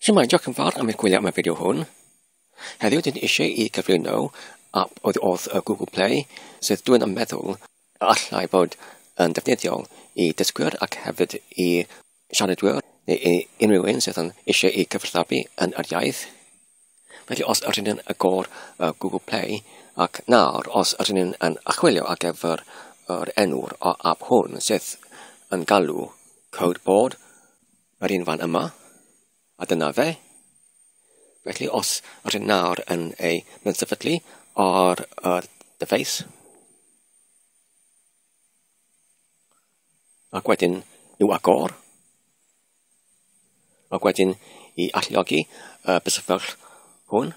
Shwmae, diolch yn fawr am eich gwylio am y fideo hwn. Heddiw dyn eisiau i gyflwyno app oedd wrth y Google Play sydd dwi'n yn meddwl y allai fod yn defnyddiol i dysgwyr ac hefyd i siaradwyr neu i unrhyw un sydd yn eisiau i gyfathrebu yn yr iaith. Felly os ydyn ni'n agor uh, Google Play ac nawr os ydyn ni'n yn achwilio ar gyfer yr enw'r o app hwn sydd yn galw code board yr un fan yma a dyna fe. Felly os ydyn nawr yn ei mynd sefydlu ar yr deface Ac wedyn i'w agor. Ac wedyn i alluogi y bysyfell hwn.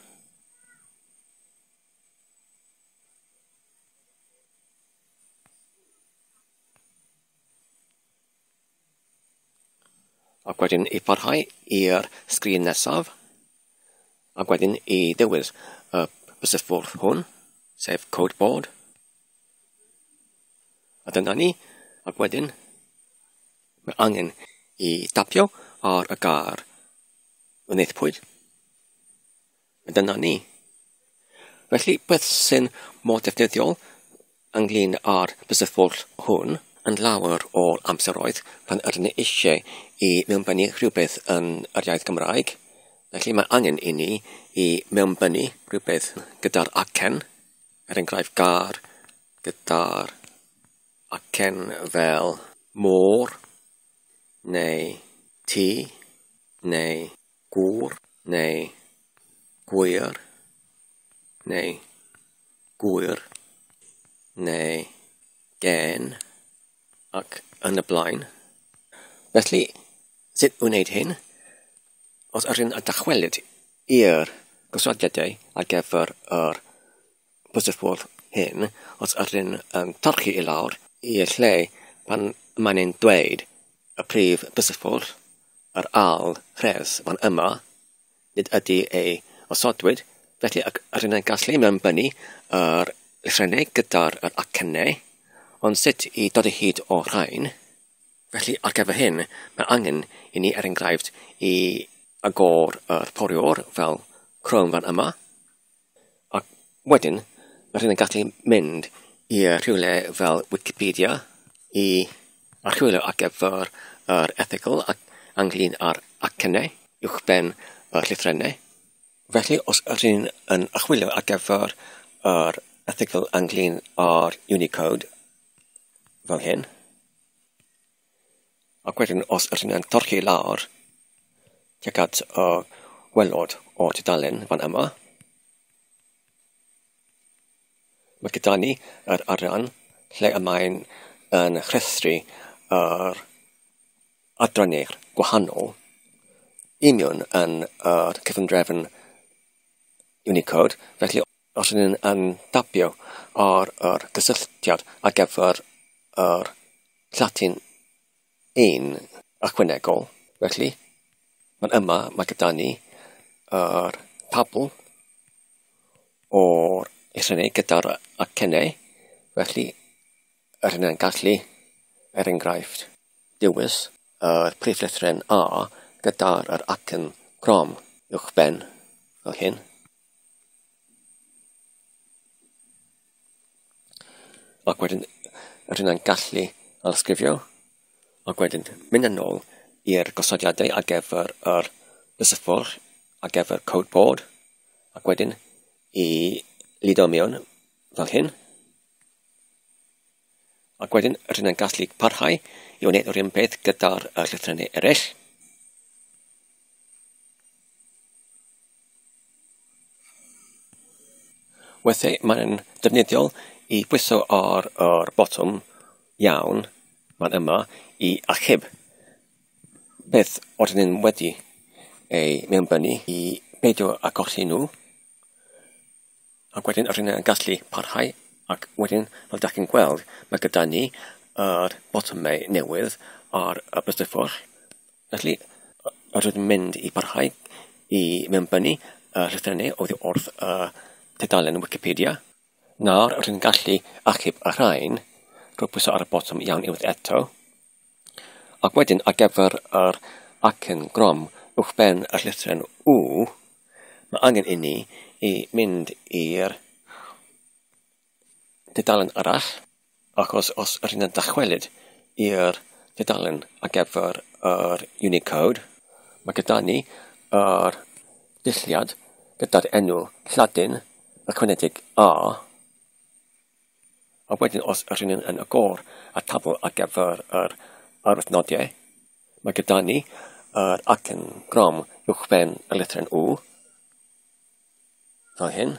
ac wedyn i parhau i'r sgrin nesaf, ac wedyn i dewis y bysysfwrdd hwn, sef code board, A dyna ni. Ac wedyn, mae angen i tapio ar y gar wnaethpwyd. A dyna ni. Felly, beth sy'n mor defnyddiol ynglyn â'r bysyllfwrdd hwn yn lawer o amseroedd pan ydyn ni eisiau i mewnbynnu rhywbeth yn yr iaith Gymraeg. Felly mae angen i ni i mewnbynnu rhywbeth gyda'r acen er enghraifft gar, gyda'r acen fel môr neu tŷ neu gŵr neu gŵyr neu gŵyr neu gên ac yn y blaen. Felly, Sut i wneud hyn? Os ydyn yn dychwelyd i'r gosodiadau ar gyfer yr bwysffordd hyn, os ydyn yn torchi i lawr i'r lle pan mae'n ein dweud y prif bwysffordd, yr ail rhes fan yma, nid ydy ei osodwyd, felly ac ydyn yn gallu mewnbynnu yr llythrenau gyda'r acennau, ond sut i dod o hyd o'r rhain? Felly, ar gyfer hyn, mae angen i ni, er enghraifft, i agor yr poriwr fel Chrome fan yma, a wedyn mae rhywun yn gallu mynd i rhywle fel Wikipedia i archwilio ar gyfer yr erthygl ac anglyn ar acennau uwchben y llythrennau. Felly, os ydych chi'n yn achwilio ar gyfer yr erthygl anglyn ar Unicode fel hyn, Ac wedyn os ydyn ni'n torri lawr tuag at y gwaelod o'r tudalen fan yma, mae gyda ni yr arian lle y mae'n yn rhestru yr adrannau gwahanol union yn yr cyfundrefn Unicode, felly... Os ydyn ni yn tabio o'r o'r gysylltiad ar gyfer yr Llatyn un ychwanegol felly ma'n yma ma' gyda ni yr tabl o'r rhyneg gyda'r acene felly yr hynna'n gallu er enghraifft dewis yr prif lythren A gyda'r yr acen grom uwchben fel hyn. Ac wedyn, rydyn ni'n gallu archifio ac wedyn mynd yn ôl i'r gosodiadau ar gyfer yr llysyfwr ar gyfer code board ac wedyn i lido mewn fel hyn. Ac wedyn, rydyn ni'n gallu parhau i wneud yr un peth gyda'r llythrennau eraill. Weithiau mae'n ddefnyddiol i bwyso ar yr botwm 'Iawn, mae'n yma' i achub beth oedden nhw'n wedi ei mewnbynnu i beidio â golli nhw. Ac wedyn yr hyn yn gallu parhau ac wedyn fel dach chi'n gweld mae gyda ni yr botymau newydd ar y bystyffwrdd. Felly yr ydym mynd i barhau i mewnbynnu y llythrenau oddi wrth y tudalen Wikipedia. Nawr rydyn ni'n gallu achub y rhain drwy pwyso ar y botwm iawn unwaith eto. Ac wedyn ar gyfer yr acen grom uwchben y llythryn U, mae angen inni i mynd i'r dudalen arall, achos os rydyn ni'n dychwelyd i'r dudalen ar gyfer yr Unicode, mae gyda ni yr dulliad gyda'r enw Lladin ychwanegedig A, A wedyn os r'yn ni'n yn agor y tabl ar gyfer yr arwyddnodiau, mae gyda ni yr acen grom uwchben y lethren U, fel hyn.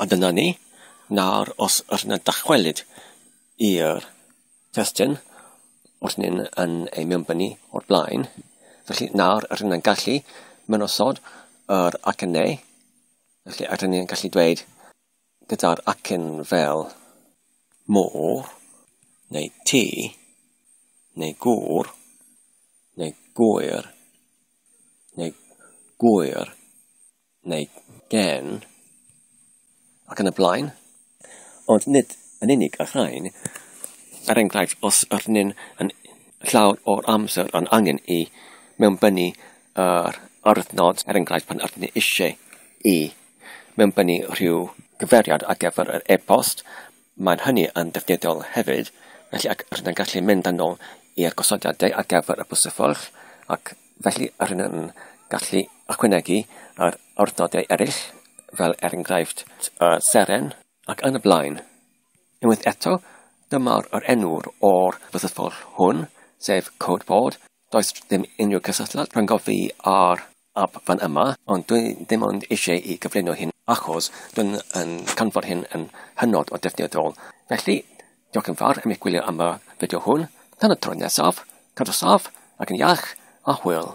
A dyna ni. Nawr, os yr na dychwelyd i'r testyn wrth ni'n yn ei mewnbynnu o'r blaen, felly nawr yr yn gallu mynosod yr acen neu, felly yr yn gallu dweud gyda'r acen fel môr, neu ti, neu gŵr, neu gwyr, neu gwyr, neu gen ac yn y blaen, ond nid yn unig y rhain. Er enghraifft, os arnyn yn llawer o'r amser yn angen i mewnbynnu yr aruthnod, er enghraifft pan ydyn ni eisiau i mewnbynnu rhyw gyferiad ar gyfer yr e-bost, mae'n hynny yn ddefnyddiol hefyd, felly ac rydyn yn gallu mynd yn ôl i'r gosodiadau ar gyfer y bws y ffordd ac Felly, rydyn yn gallu ychwanegu ar awdurdodau eraill, fel er enghraifft y Seren ac yn y blaen. Unwaith eto, dyma'r yr enw'r o'r byddethol hwn, sef Code Board. Does ddim unrhyw cysylltiad rhyngo fi ar ap fan yma, ond dwi ddim ond eisiau i gyflwyno hyn achos dwi'n yn canfod hyn yn hynod o defnyddiol. Felly, Diolch yn fawr am eich gwylio am y fideo hwn. Tan y tro nesaf, cadw saff ac yn iach a hwyl.